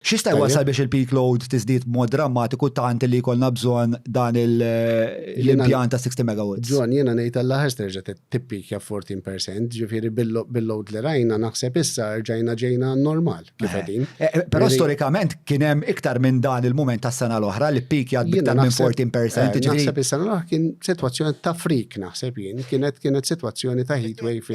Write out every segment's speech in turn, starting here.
X'jista' jwassal biex il-peak load tiżdied b'mod drammatiku tant li jkollna bżonn dan l-impjant ta' 60 MW? John, jiena ngħid għall-aħħar se terġa' tippeakja b'14 percent, ġifieri bil-load li rajna naħseb issa rġajna ġejna għan-normal kif qegħdin. Però storikament kien hemm iktar minn dan il-mument tas-sena l-oħra li ppeakjat b'iktar minn 14 percent, ġifieri. Jiena naħseb is-sena l-oħra kien sitwazzjoni ta' freak naħseb jien, kienet sitwazzjoni ta' heatwave.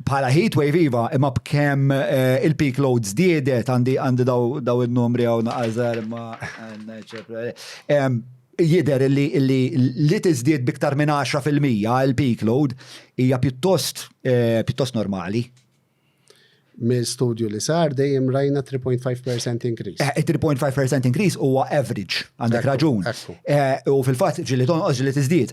bħala heatwave iva, imma b'kemm il-peak load żdiedet għandi daw in-numri hawn naqażar imma jidher li li tiżdied b'iktar minn 10% il-peak load hija pjuttost normali. Minn studju li sar dejjem rajna 3.5% increase. 3.5% increase huwa average, għandek raġun. U fil-fatt ġieli tonqos ġieli tiżdied.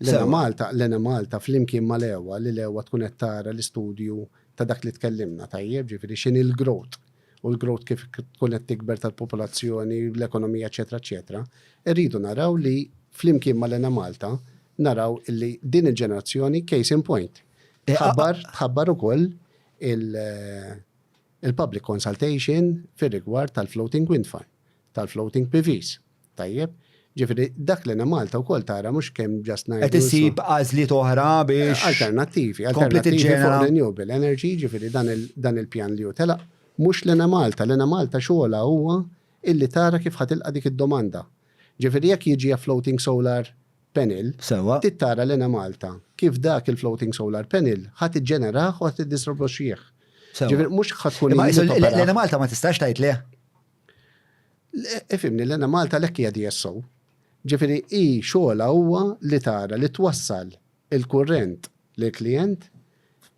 Lena Malta, Lena Malta flimkien ma lewa li lewa tkun qed tara l-istudju ta' dak li tkellimna tajjeb, ġifieri x'inhi l-growth u l-growth kif tkun qed tikber tal-popolazzjoni, l-ekonomija, eċetera, eċetera. Irridu naraw li flimkien ma' Lena Malta naraw illi din il-ġenerazzjoni case in point. Tħabbar, tħabbar ukoll il-public consultation fir-rigward tal-floating wind farm, tal-floating PVs. Tajjeb. Ġifieri dak l-Enemalta wkoll tara mhux kemm just ngħidu. Qed issib għażliet oħra biex. Alternattivi, alternattivi fuq renewable energy, ġifieri dan il-pjan li hu telaq, mhux l-Enemalta. L-Enemalta xogħolha huwa illi tara kif ħa tilqa' dik id-domanda. Ġifieri jekk jiġi a floating solar panel, trid tara l-Enemalta kif dak il-floating solar panel ħa tiġġenerah u ħa tiddistribwixxih. Ġifieri mhux ħa tkun. L-Enemalta ma tistax tgħid le. Ifimni, l-Ena Malta l-hekk hija DSO. Ġifieri hi xogħolha huwa li tara li twassal il-kurrent lill-klijent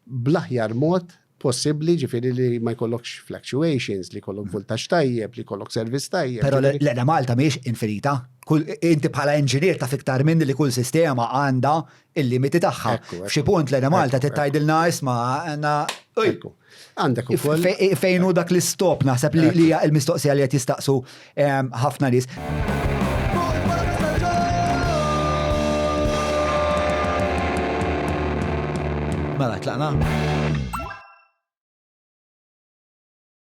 bl-aħjar mod possibbli, ġifieri li ma jkollokx fluctuations, li jkollok voltaġġ tajjeb, li jkollok servizz tajjeb. Però l-Ena Malta mhijiex infinita. Inti bħala inġinier taf iktar minni li kull sistema għandha l-limiti tagħha. F'xi punt l-Ena Malta trid tgħidilna isma' għandna. Għandek ukoll. Fejn hu dak l-istop naħseb li hija l-mistoqsija li qed jistaqsu ehm, ħafna nies. Mela tlaqna.